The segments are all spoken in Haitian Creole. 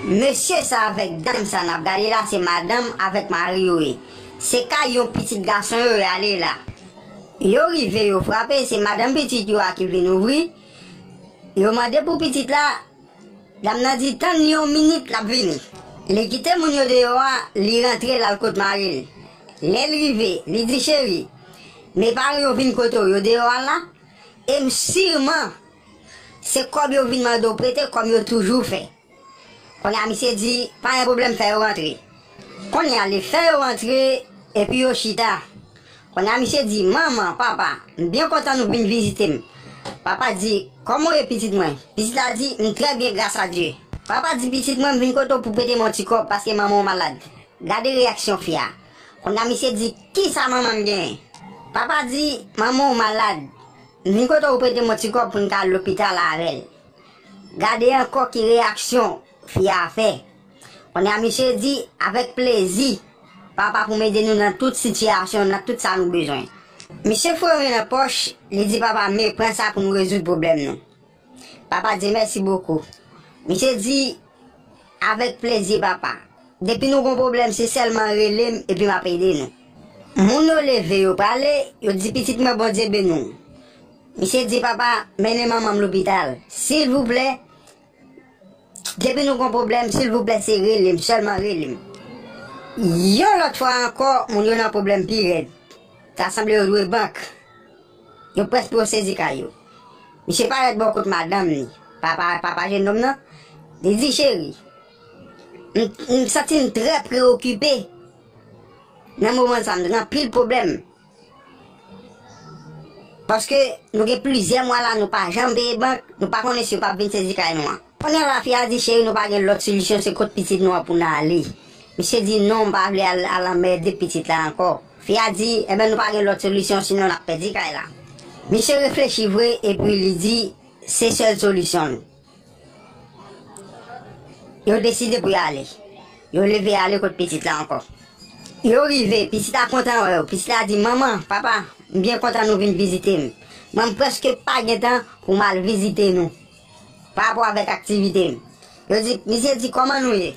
Mesye sa avèk dam sa nap gade la se madanm avèk mari yo ye se kay yon pitit gason yo yo ale la yo rive yo frape se madanm pitit yo a ki vin ouvri yo mande pou pitit la dam nan di tann li yon minit lap vini li kite moun yo deyò a li rantre lal kot maril lèl rive li di cheri me pare yo vin kote w yo deyò a la em sirman Se kob yo vin mande w prete kom yo toujou fè. Konya misye di pa gen pwoblèm fè yo rantre. Konya li fè yo rantre epi yo chita. Konya misye di manman, papa, m byen kontan nou vin vizite m. Papa di, koman w ye pitit mwen? Pitit la di, m trè byen gras a Dye. Papa di pitit mwen m vin kote w pou prete m yon ti kob paske manman w malad. Gade reyaksyon fi a. Konya misye di kisa manman m genyen? Papa di manman w malad. Nikoto ou prete m yon ti kòb pou n ta al lopital avè l. Gade ankò ki reyaksyon fi a fè. Kounye a misye di, Avèk plezi, papa pou m ede nou nan tout sitiyasyon, nan tout sa nou bezwen. Misye foure men nan pòch, li di papa me pran sa pou nou rezoud pwoblèm nou. Papa di mèsi bokou. Misye di Avèk plezi papa. Depi nou gon pwoblèm se sèlman rele m epi map ede nou. Moun yo leve yo prale, yo di pitit mwen Bondye beni w. Misye di papa mennen manman m lopital. Silvouplè Depi nou gon pwoblèm silvouplè se rele m sèlman rele m. Yon lòt fwa ankò moun yo nan pwoblèm pi rèd. Ta sanble yo dwe bank. Nou prèsk pou yo sezi kay yo. Misye parèt bò kot madanm li, papa papa jennonm nan, li di, Cheri, m m santi m trè preyokipe nan moman sa, m gen anpil pwoblèm. Paske nou gen plizyè mwa la nou pa janm peye bank, nou pa konnen si yo p ap vin sezi kay nou an. Kounya la fi a di, Cheri nou pa gen lòt solisyon se kot pitit nou an pou n ale. Misye di, Non m pa vle al anmède pitit la ankò. Fi a di, Enben nou pa gen lòt solisyon sinon n ap pèdi kay la. Misye reflechi vre epi li di, Se sèl solisyon l. Yo deside pou y ale. Yo leve ale kot pitit la ankò. Yo rive, pitit la kontan wè yo. Pitit la di, Manman, papa, m byen kontan nou vin vizite m. Mwen m prèske pa gen tan pou m al vizite nou. Pa rapò avèk aktivite m. Yo di, Misye di, Kòman nou ye?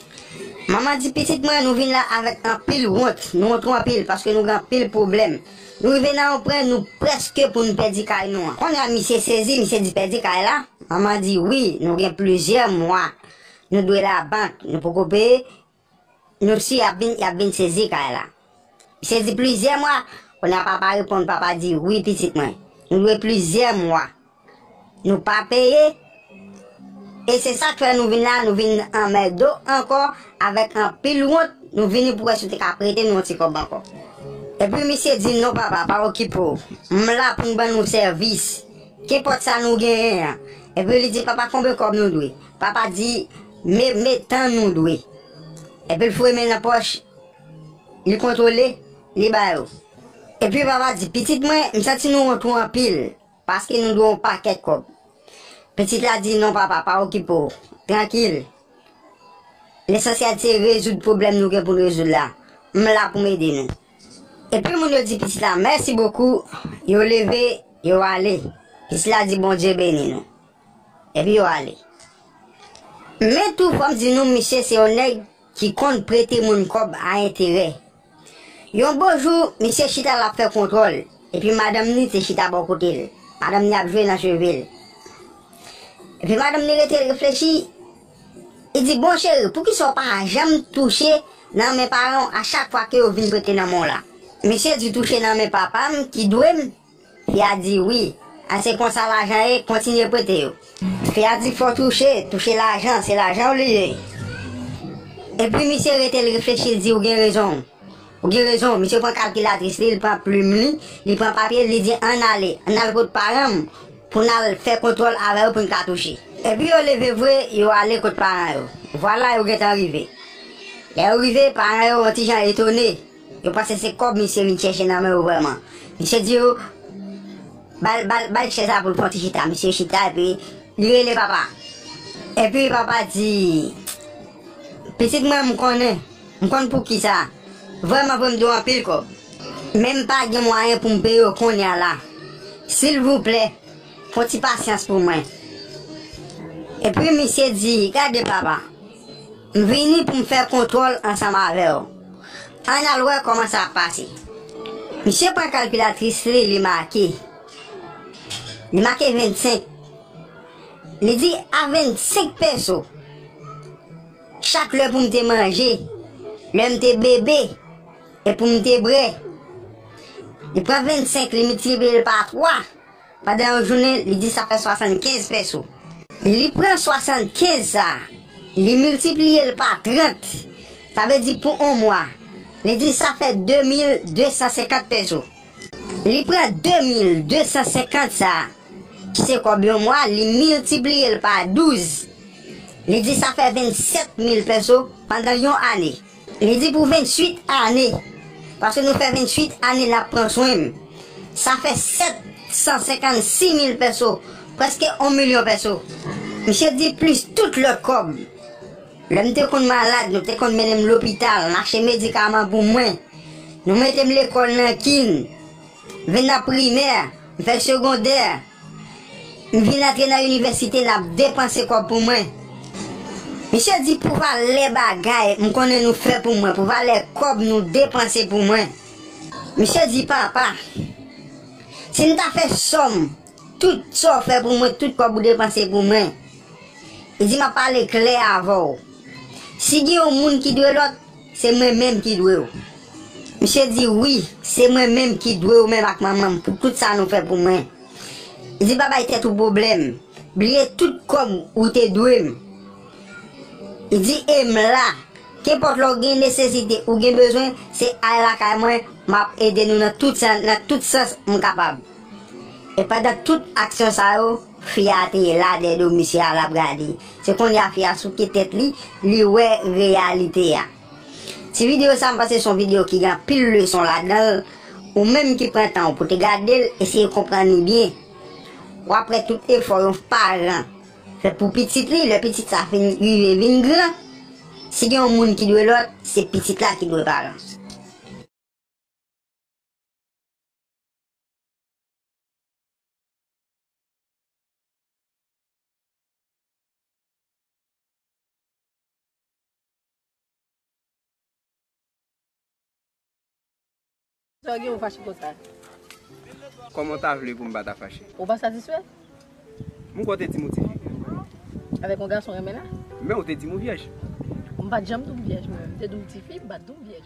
Manman di, Pitit mwen, nou vin la avèk anpil wont. Nou wont ou anpil, paske nou gen anpil pwoblèm. Nou rive nan yon pwen, nou prèske pou n pèdi kay nou an. Kounye a, misye sezi, misye di, Pèdi kay la? Manman di, Wi, nou gen plizyè mwa nou dwe labank, nou poko peye. Nou si yap vin yap vin sezi kay la. Misye di plizyè mwa, konya papa reponn papa di wi pitit mwen nou dwe plizyè mwa nou pa peye e se sak fè nou vin la nou vin anmèdo ankò avèk anpil wont nou vini pou wè si w te ka prete nou yon ti kòb ankò. Epi misye di non papa pa okipe w m la pou m ban nou sèvis kenpòt sa nou genyen an epi li di papa konbyen kòb nou dwe Papa di, Me, me, tann nou dwe. Epi l foure men l nan pòch, li kontwole, li ba yo. Epi papa di, Pitit mwen, m santi nou wont ou anpil, paske nou dwe yon pakèt kòb. Pitit la di, Non papa, pa okipe w, trankil. Lesansyèl se rezoud pwoblèm nou gen pou n rezoud la. M la pou m ede nou. Epi moun yo di pitit la, Mèsi bokou, yo leve, yo ale. Pitit la di, Bondye beni nou. Epi yo ale. Men tou fò m di nou misye se yon nèg ki konn prete moun kòb a enterè. Yon bon jou, misye chita l ap fè kontwòl, epi madanm ni te chita bò kote l. Madanm ni ap jwe nan cheve l. Epi madanm ni rete reflechi, li di, Bon cheri, poukisa w pa janm touche nan men paran w a chak fwa ke yo vin prete nan men w la? Misye di, Touche nan men papa m ki dwe m. Fi a di, Wi. A se konsa lajan ye, kontinye prete yo. Fi a di, Fò w touche, touche lajan, se lajan w li ye. Epi misye rete l reflechi l di, Ou gen rezon w. Ou gen rezon w. Misye pran kalkilatris li, li pran plim li, li pran papye l, li di, An n ale, an n al kot paran m pou n al fè kontwòl avè yo pou n ka touche. Epi yo leve vre, yo ale kot paran yo. Vwala yo gentan rive. Lè yo rive, paran yo on ti jan etone. Yo panse se kob misye vin chèche nan men yo vreman. Misye di yo bal chèz la poul pran ti chita. Misye chita epi li rele papa. Epi papa di pitit mwen m konnen. M konn poukisa. Vreman vre m dwe anpil kob. Men m pa gen mwayen poum peye yo konnya la. Silvouplè fon ti pasyans pou mwen. Epi misye di gade papa. M vini pou m fè kontwòl ansanm avè w. Ann al wè kòman sa ap pase. Misye pran kalkilatris li, li make. Li make 25. Li di, A 25 peso, chak lè pou m te manje, lè m te bebe, e pou m te bre. Li pran 25, li miltipliye l pa 3. Pandan yon jounen, li di sa fè 75 pèso. Li pran 75 sa, li miltipliye l pa 30, sa vle di pou on mwa, li di sa fè 2250 pèso. Li pran 2250 sa, ki se kòb yon mwa, li miltipliye l pa 12, li di sa fè 27000 pèso pandan yon ane. Li di pou 28 ane, paske nou fè 28 ane lap pran swen m, sa fè 756 mil pèso, prèske on milyon pèso. Misye di plis tout lòt kòb. Lè m te konn malad, nou te konn mennen m lopital, m achte medikaman pou mwen, nou mete m lekòl nan kin. M vin nan primè, m fè segondè, m vin antre nan inivèsite n ap depanse kòb pou mwen. Misye di pou valè bagay m konnen nou fè pou mwen, pou valè kòb nou depanse pou mwen. Misye di papa, si m ta fè sòm tout sa w fè pou mwen, tout kòb ou depanse pou mwen, li di m ap pale klè avè w, si gen yon moun ki dwe lòt, Se mwen menm ki dwe w. Misye di, Wi, se mwen menm ki dwe ou menm ak manman m pou tout sa nou fè pou mwen. Li di, Pa bay tèt ou pwoblèm. Bliye tout kòb ou te dwe m. Li di, E m la. Kenpòt lè w gen nesesite, ou gen bezwen, se al lakay mwen, m ap ede nou nan tout sans m kapab. E pandan tout aksyon sa yo, fi a te la dèyè do misye a, l ap gade. Se kounye a fi a souke tèt li, li wè reyalite a. Ti videyo sa a m panse se yon videyo ki gen anpil leson ladan l. Ou menm ki pran tan w pou te gade l, eseye konprann li byen. W ap wè tout efò yon paran fè pou pitit li, lè pitit sa fin rive vin gran. Si gen yon moun ki dwe lòt, se pitit la ki dwe paran. Kòman w ta vle pou m pa ta fache? Mwen kwè w te di m ou ti fi. Men ou te di m ou vyèj. Mwen pa t janm di w m vyèj mwen. Mwen te di w m ti fi, m pa t di w m vyèj.